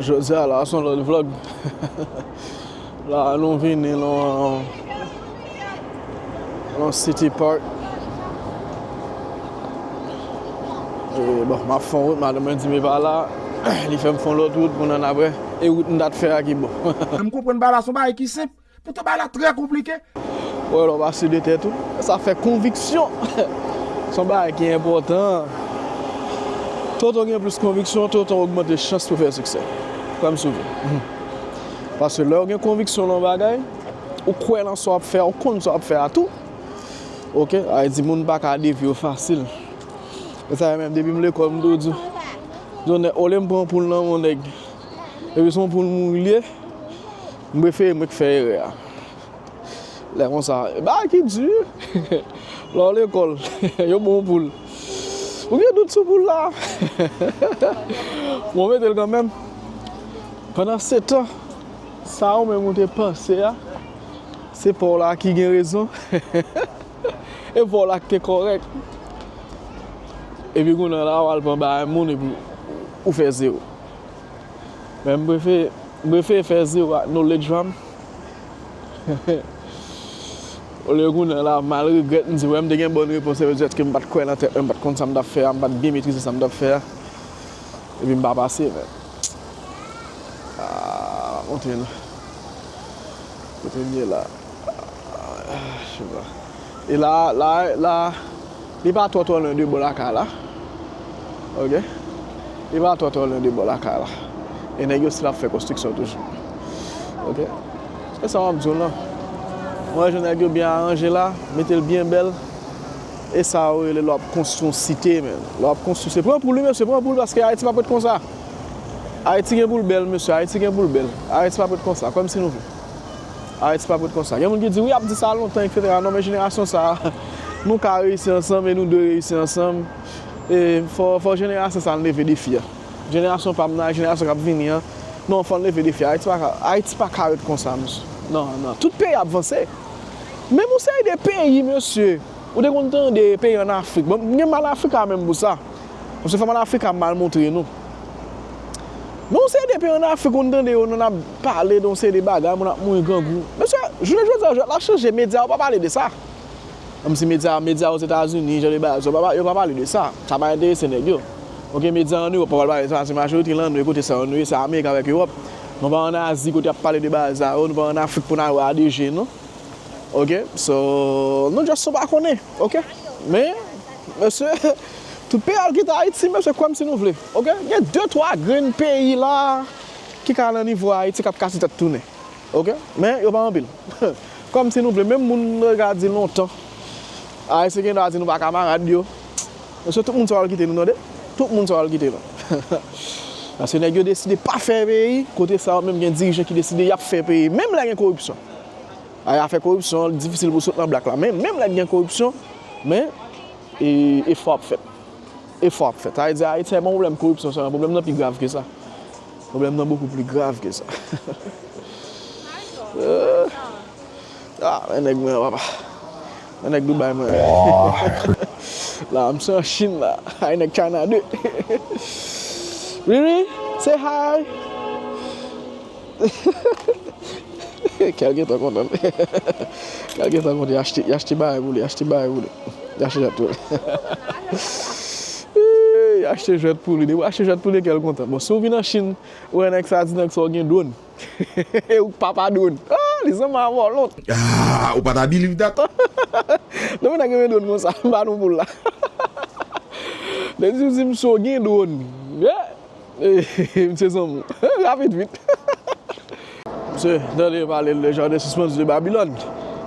Jodia la son lòt vlog La nou vini nan City Park E bon map fon wout madanm mwen di m e pa la Li fè m fon lòt wout pou n ann apre E wout m ta t fè a ki bon An m konprann bagay la son bagay ki senp Poutan bagay la trè konplike. Wè lè w pa si de tèt ou. Sa fè konviksyon. Se yon bagay ki enpòtan. Toutan w gen plis konviksyon, toutan w ogmante chans pou w fè siksè. Kwè m si w vle. Paske lè w gen konviksyon nan yon bagay, ou kwè nan sa w ap fè a, ou konn sa w ap fè a tou. Ok, sa vle di moun pa ka devye w fasil. Se sa yo menm depi m lekòl m toujou di. Olye m pran poul nan men yon nèg. Epi son poul mouri li ye. M prefere mwen ki fè erè a. Lè konsa. E bagay ki di wi. Lè w lekòl. Yo ba w poul. Ou gen dout sou poul la. Bon mete l kanmenm. Pandansetan. Sa ou menm ou te panse a. Se pa w la ki gen rezon. E pa w la ki te kòrèk. Epi kounye la w al pran bagay moun epi ou fè zewo. Men mprefe mprefe fè zero ak knowledge pam olye kounye la mal regrèt mdi wè mte gen bòn repons se petèt ke mpat kwè nan tèt mwen mpat konn sam tap fè a mpat byen metrize sam tap fè a epi mpa pase men aah map montre nou kotem ye la aah cheba e la la la. Li pa twò twò lwen de bò lakay la ok li pa twò twò lwen de bò lakay la e nèg yo stil ap fè konstriksyon toujou ok se sa map diw lan mwen wè jan nèg yo byen aranje la metel byen bèl e sa yo rele lè wap konstwi yon site menn lè wap konstwi se pran poul wi mesye pran poul paske ayiti pap ret konsa ayiti gen poul bèl mesye ayiti gen poul bèl ayiti pap ret konsa kòmsi nou vle. Aristide pa pou t konsa. Gen moun ki di wi y ap di sa lontan eksetera non men jenerasyon sa a nou ka reyisi ansanm e nou dwe reyisi ansanm e fò jenerasyon sa a leve defi a. Jenerasyon pa m nan ak jenerasyon k ap vini an non fò n leve defi a Ayiti pa ka ret konsa mesye nan nan tout peyi ap vanse menm yon seri de peyi mesye ou te konn tande peyi an Afrik bon m gen mal Africa menm pou sa. Mesye fanm an Afrik a mal montre nou. Gen yon seri de peyi an Afrik ou tande yo nan ap pale de yon seri de bagay, moun ap mouri grangou. Mesye, jounen jodi a jwèt la chanje, medya yo pa pale de sa. Menm si medya, medya Ozetazini, jan de bagay sa yo, yo pa pale de sa. Sa pa enterese nèg yo. Ok, medya an Ewòp pa pral pale de sa paske majorite lan nou e kote sa yo nou ye se Amerik avèk Ewòp. Nou pa an Azi kote y ap pale de bagay sa yo, nou pa an Afrik pou n al wè a de je nou. Ok, so, nou just son pa konnen. Ok, men. Mesye tout peyi al kite ayiti mesye kwèm si nou vle ok gen de twa grenn peyi la ki ka nan nivo ayiti kap kase tèt tounen ok men yo pa anpil kwèm si nou vle menm moun nou te ka di lontan ayisyen gen dwa di nou pa kamarad yo mesye tout moun sa yo al kite nou tande tout moun sa yo al kite nou paske nèg yo deside pa fè peyi kote sa yo menm gen dirijan ki deside yap fè peyi menm lè gen koripsyon Ay afè koripsyon an li difisil pou sot nan blak la men menm lè gen koripsyon men efò ap fèt efò ap fèt sa vle di ayiti se pa yon pwoblèm koripsyon sèlman pwoblèm nan pi grav ke sa pwoblèm nan bokou pli grav ke sa ooh ah men nèg mwen an papa men nèg Dubai mwen an la misye an chine la ay nèg china 2 wi wi say hi Kèl gentan kontan Kèl gentan kontan Y achte bagay pou li Y achte bagay pou li Y achte jwèt pou li Y achte jwèt pou li Depi w achte jwèt pou li kèl kontan Bon si w vin an Chine Ou wè nèg sa di nèg sa w gen dwòn E ou k papa dwòn Li sanble ak vòlò Aah ou pa ta biliv dat Depi nèg gen dwòn konsa M ba nou pou l la Depi w di m si w gen dwòn Misye zanmi w. Rapid vit. Misye tande yo pale le jardin suspendu de Babylone.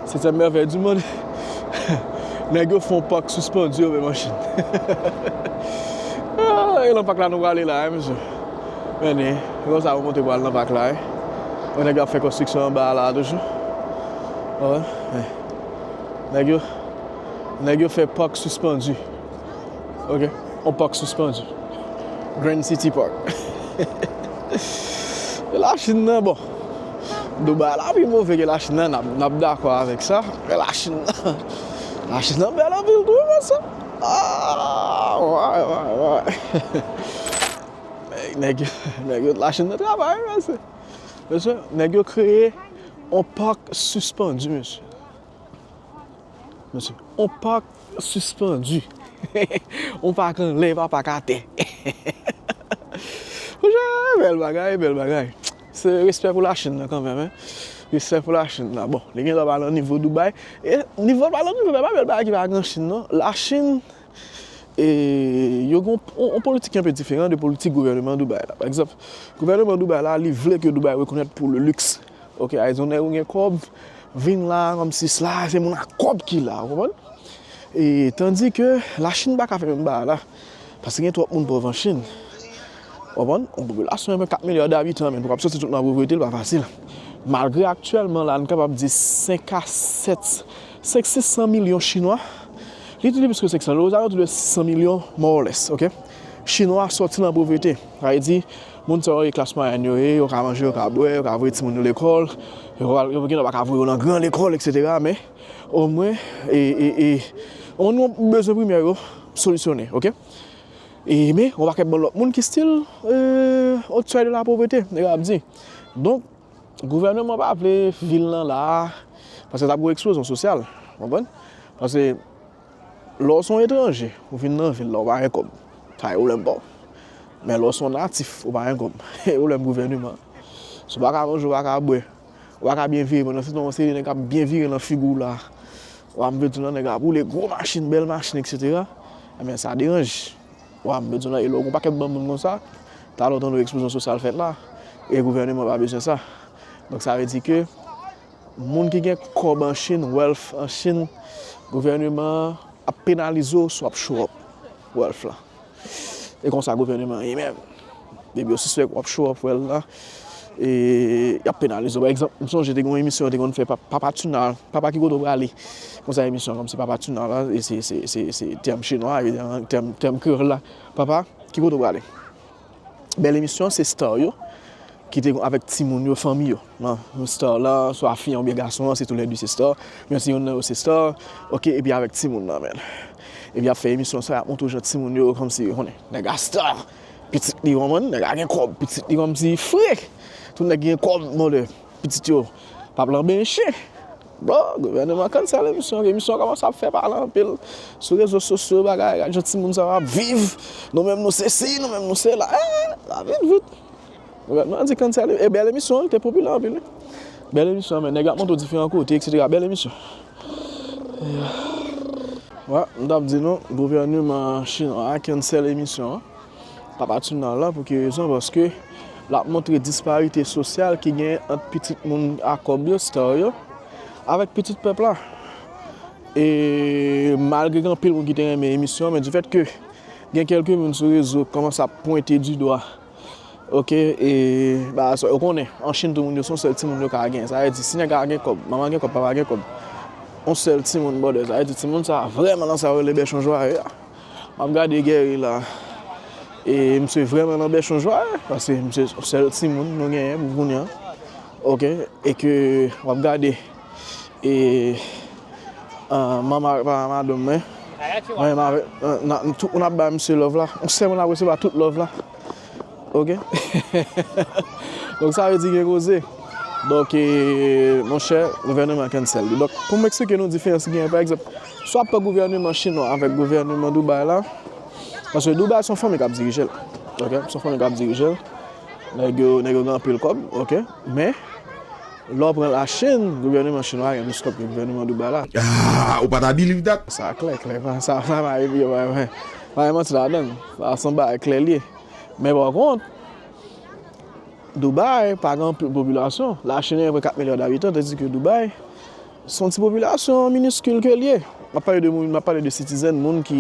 Septième merveille du monde. Nèg yo fon pak suspendu yo menm an Chine. E lan pak la nou prale la hein mesye. Mène, se konsa yo monte pou al lan pak la hein. Wè nèg yo ap fè konstriksyon anba a la toujou. Wè. Nèg yo, nèg yo fè pak suspendu. Ok, on park suspendu. Grand City Park. E la Chine nan bon. Dubai la pi move ke la Chine nan, nap dakò avèk sa. E la Chine nan, la Chine nan bèl anpil tou vre sa. Ah, wè, wè, wè. Nèg yo, nèg yo la Chine nan travay vre mesye. Mesye, nèg yo kreye on park suspendu mesye. On park suspendu. On park anlè, e pa park atè. Bèl bagay, bèl bagay. Se respè pou la Chine nan kanmèm, hein. Respè pou la Chine nan. Bon, li gen dwa pa nan nivo Dubaï. E, nivo l pa nan Dubaï, pa bèl bagay ki pa gen an Chine non. La Chine, e, yo gen yon politik ki anpe diferan de politik gouvèneman Dubaï la. Pa egzanp, gouvèneman Dubaï la, li vle ke Dubaï rekonèt pou le luxe. Ok ayizonè ou gen kòb vin la kòmsi sla se moun ak kòb ki la ou konprann e tandi ke la chine paka fè menm bagay la paske gen twòp moun pòv an chine ou konprann yon popilasyon yon 4 milya dabitan men pou kap soti tout nan povrete li pa fasil malgre aktyèlman la nou kapab di 5 a 7 5 600 milyon chinwa li tou li plis ke 500 lè ozalò tou de 600 milyon mòlès ok chinwa soti nan povrete sa vle di Moun sa yo ye klas mwayèn yo ye, yo ka manje, yo ka bwè, yo ka voye timoun yo lekòl, yo gen dwa pa ka voye yo nan gran lekòl eksetera men omwen yon bezwen primè yo solisyone ok men yon pakèt bon lòt moun ki stil o sèy de la povrete nèg la ap di donk gouvèneman pa vle vil nan la paske ta gen yon eksplozyon sosyal ou konprann paske Lè w se yon etranje, ou vin nan vil la, ou pa gen kòb, sa gen pwoblèm pa w. Men lè w se yon natif, ou pa gen kòb, se pwoblèm gouvèneman an. Si w pa ka manje, w pa ka bwè, ou pa ka byen vire pandan se tan yon seri nèg ap byen vire nan figi w la, ou ap bezwen nan nèg ap woule gwo machin, bèl machin eksetera, enben sa deranje. Ou ap bezwen nan e lè w gen yon pakèt bann moun konsa, talè w tande eksplozyon sosyal fèt la e gouvèneman pa bezwen sa. Donk sa vle di ke. Moun ki gen kòb an Chine, wealth an Chine, gouvèneman an ap penalize w si w ap show up wealth lan. E konsa gouvèneman an ye menm. Depi yo sispèk w ap show up wealth lan, e y ap penalize w. Pa egzanp, m sonje te gen yon emisyon yo te konn fè Papa Tuna, Papa ki kote w prale? Konsa emisyon an kòmanse Papa Tuna la, se tèm chinwa, tèm kreyòl la, Papa, ki kote w prale? Bèl emisyon se star yo ki te avèk timoun yo fanmi yo nan star lan swa fi an oubyen gason an se tou lè 2 se star men se yonn nan yo se star ok epi avèk timoun nan men epi yap fè emisyon sa yap montre w jan timoun yo kòmsi ou konnen nèg la star pitit li ou konprann nèg la gen kòb pitit li kòmsi fre tout nèg gen kòb mòde. Pitit yo pap lanbe yon chen. Bon gouvèneman kannsèl emisyon an, emisyon an kòmanse ap fè pale anpil sou rezo sosyo bagay, gad jan timoun sa yo ap viv, nou menm nou se si nou menm nou se la, eeh lavi dout. Gouvèneman an di kannsèl emisyon, e bèl emisyon wi li te popilè anpil wi, bèl emisyon men nèg la ap montre w diferan kote eksetera bèl emisyon. Wè m tap di nou gouvèneman chinwa a kannsèl emisyon an. Papa Tuna lan pou ki rezon paske lap montre disparite sosyal ki genyen ant pitit moun a kòb yo, star yo, avèk pitit pèp la. E malgre gen anpil moun ki te renmen emisyon an men di fèt ke gen kelke moun sou rezo ki kòmanse ap pwente di dwa ok e bagay sa ou konnen an Chine tout moun yo se yon sèl timoun yo ka gen sa vle di si nèg la gen kòb manman gen kòb papa gen kòb yon sèl timoun bòdè sa vle di timoun sa vrèman nan sa yo rele bèchon jwaye a. Map gade Guerry la e misye vrèman nan bèchon jwa paske misye se sèl timoun nou genyen pou kounya ok e ke wap gade e mama avèk papa madanm mwen mwen avèk tout moun ap bay misye love la mwen sèlman ap resevwa tout love la. Ok Donk sa vle di gen koze Donk monchè gouvèneman cancel li Donk pou m eksplike nou diferans ki genyen pa egzanp Si w ap pran gouvèneman chinwa avèk gouvèneman Dubai la Paske Dubai se yon fanmi k ap dirije l Ok se yon fanmi k ap dirije l Nèg yo nèg yo gen anpil kòb Ok Men lè w pran lachin gouvèneman chinwa a gen plis kòb ke gouvèneman Dubai la Ahh ou pa ta biliv dat? Sa klè klè Sa pa epi yo pa bay manti ladan l. Sa a son bagay klè li ye. Men pa kont, Dubai pa gen anpil popilasyon. La Chine gen apre 4 milya dabitan, tandiz ke Dubai son ti popilasyon miniskil ke li ye. M ap pale de moun, m ap pale de sitizèn, moun ki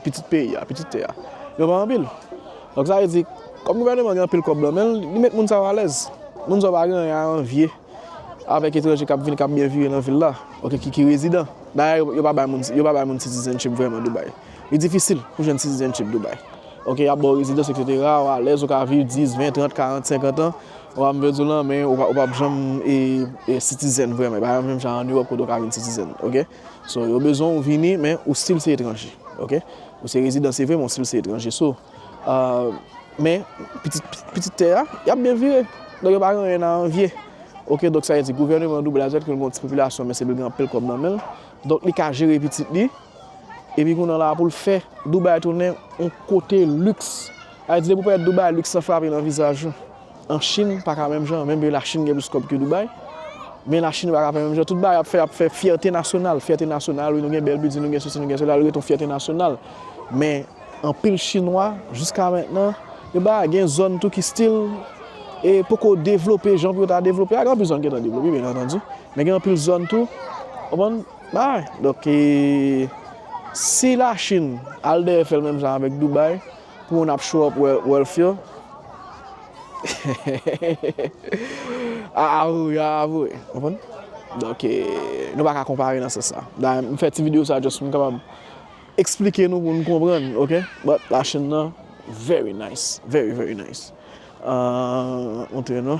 pitit peyi a, pitit tè a. Yo pa anpil. Donk sa vle di, kòm gouvèneman an gen anpil kòb lan men l, li met moun sa yo alèz. Moun sa yo pa gen anyen a anvye avèk etranje k ap vin, k ap byen vire nan vil la, oubyen ki rezidan. Dayè yo pa bay moun sitizènchip vrèman Dubai. Li difisil pou jwenn citizenship Dubai. Ok, y ap ba w rezidans etc. Ou alèz, ou ka viv 10, 20, 30, 40, 50 an. Ou ap vle di w lan, men ou pa p janm citizen vrèman. E pa menm jan an Europe kote ou ka vin citizen. Ok. So, yo bezwen w vini, men ou stil se etranje. Ok. Ou se rezidan se vre, men ou stil se etranje. So, men, pitit tè a, y ap byen vire. Donk yo pa gen anyen a anvye. Ok, donk sa vle di gouvèneman Dubai la, se vre l gen yon ti popilasyon, men se vre l gen anpil kòb nan men l. Donk li ka jere pitit li. Epi kounye an la pou l fè Dubai tounen yon kote liks. Sa vle di pou pèt Dubai liks lan frape nan vizaj ou. An Chine pa ka menm jan, menm ke la Chine gen plis kòb ke Dubai. Men la Chine pa ka fè menm jan. Tout bagay ap fè, ap fè fyète nasyonal. Fyète nasyonal wi nou gen bèl bilding, nou gen sosi, nou gen sola, li ret yon fyète nasyonal. Men anpil chinwa jiska mentnan yo pa gen zòn tou ki stil e poko devlope jan pou yo ta devlope a. Gen anpil zòn ki gentan devlope byen antandi. Men gen anpil zòn tou, konprann? Bay, donk si la chine al dèyè fèl menm jan avèk Dubai pou moun ap show up wealth yo hehehehehehe aa ou yo ap avwe ou konprann donk nou paka konpare nan sans sa dayè m fè ti video sa just pou m kapab eksplike nou pou nou konprann ok but la chine nan very nice very very nice ahh montre nou.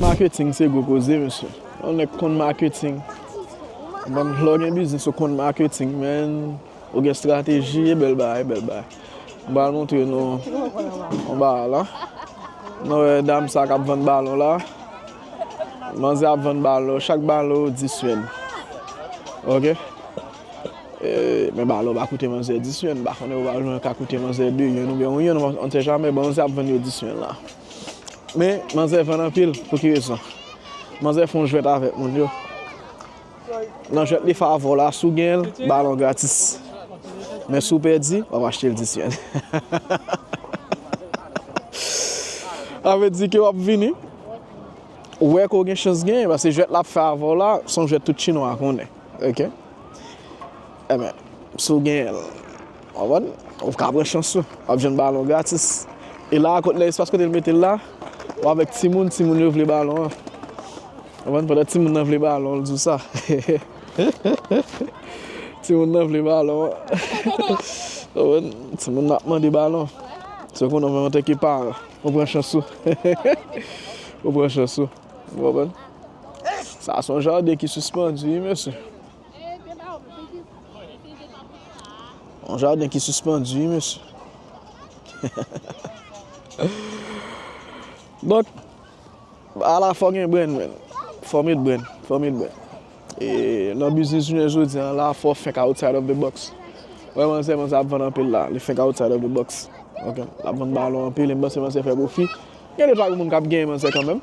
Marketing se gwo koze mesye. Yon nèg konn marketing. Bann vlogè biznis yo konn marketing menn. Ou gen strateji e bel bagay bel bagay. M pral montre nou yon bagay la. Nou wè dam sa kap vann balon la. Manzè ap vann balon. Chak balon 10 yen. Ok. E men balon pa koute manzè 10 yen. M pa konnen yon balon ka koute manzè 2 yen ou byen 1 yen. On sè jamè. Bon manzè ap vann yo 10 yen la. Men manzè vann anpil. Pou ki rezon. Manzè fon jwèt avèk moun yo. Nan jwèt li favor la si w gen l balon gratis men si w pèdi wap achte l disyèn sa vle di ke wap vini wè ke w gen chans genyen paske jwèt lap fè avè w la se yon jwèt tout chinwa konnen ok si w gen l. Konprann? Ou ka pran chans ou. Wap jwenn balon gratis. E la a kot lè espas kote l mete l la, ou avèk timoun, timoun yo vle balon an. Konprann? Pandan timoun nan vle balon, l di w sa. Timoun nan vle balon an. Konprann? Timoun nan ap mande balon. Se konnen menm antanke paran, ou pran chans ou. Ou pran chans ou. Ou konprann? Sa a se yon jaden ki sispandu wi mesye. Yon jaden ki sispandu wi mesye. Donk, ala fò gen brenn men. Fò met brenn, fò met brenn. E nan biznis jounen jodi an la fò fenk outside of the box. Wè manzè, manzè ap vann anpil la. Li fenk outside of the box. Ok, l ap vann balon anpil e m panse manzè fè pwofi. Gen de pa gen moun k ap genyen manzè kanmenm.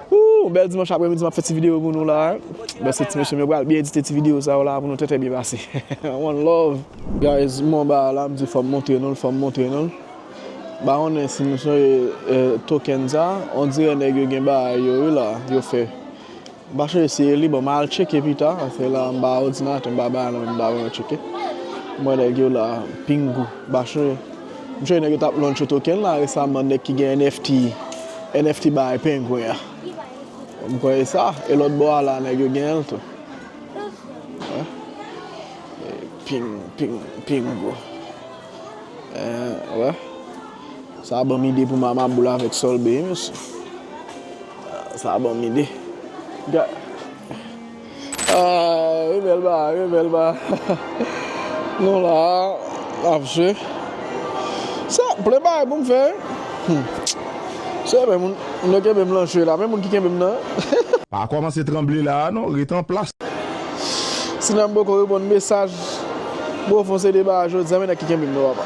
Ooh bèl dimanch aprè midi map fè ti video pou nou la bèl se ti mesye m yo pral byen edite ti video sa yo la pou nou trè trè byen pase one love. Guys m wè yon bagay la m di fòm montre nou l fòm montre nou l pa konnen si nou sonje token sa on dirè nèg yo gen bagay yo wi la yo fè m pa sonje si e li bon m al tcheke pita paske la m pa odinatè m pa bagay la m pa wè m cheke m wè nèg yo la pingou m pa sonje. M t wè nèg yo tap launch yon token la resaman nèg ki gen NFT NFT bay pengwen an m kwè e sa e lòt bò a la nèg yo genyenl tou pingo wè sa banm ide pou mama boul avèk solbe wi mesye sa banm ide. Rebel ba rebel ba Nou la nap jwe Sa plen bagay poum fè wi Sèl men moun yo kenbem lan jwe la men moun ki kenbem nan. Pa kòmanse tranble la a non ret anplas. Sinanm poko reponn mesaj Bofon se deba a jodia men nèg ki kenbem nan papa.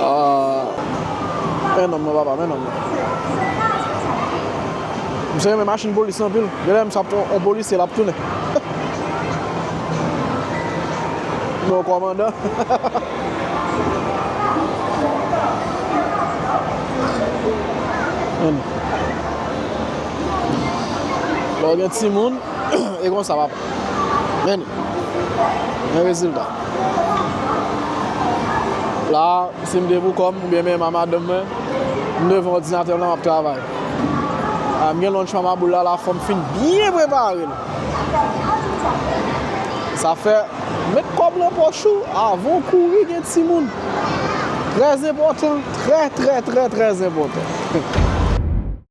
Ahh men nonm nan papa men nonm nan. Misye renmen machin polis lan anpil. Genlè misye ap fè yon polisye lap tounen. Oubyen yon kòmandan. Lè w gen timoun. e konsa w ap vini gen rezilta. La a, si m te pou kò m oubyen menm a madanm mwen, m devan òdinatè m la m ap travay. A m gen lunch pa m a boul la, la fò m fin byen prepare l. Sa fè, met kòb nan pòch ou avan w kouri gen timoun. Trè zenpòtan, trè trè trè trè zenpòtan.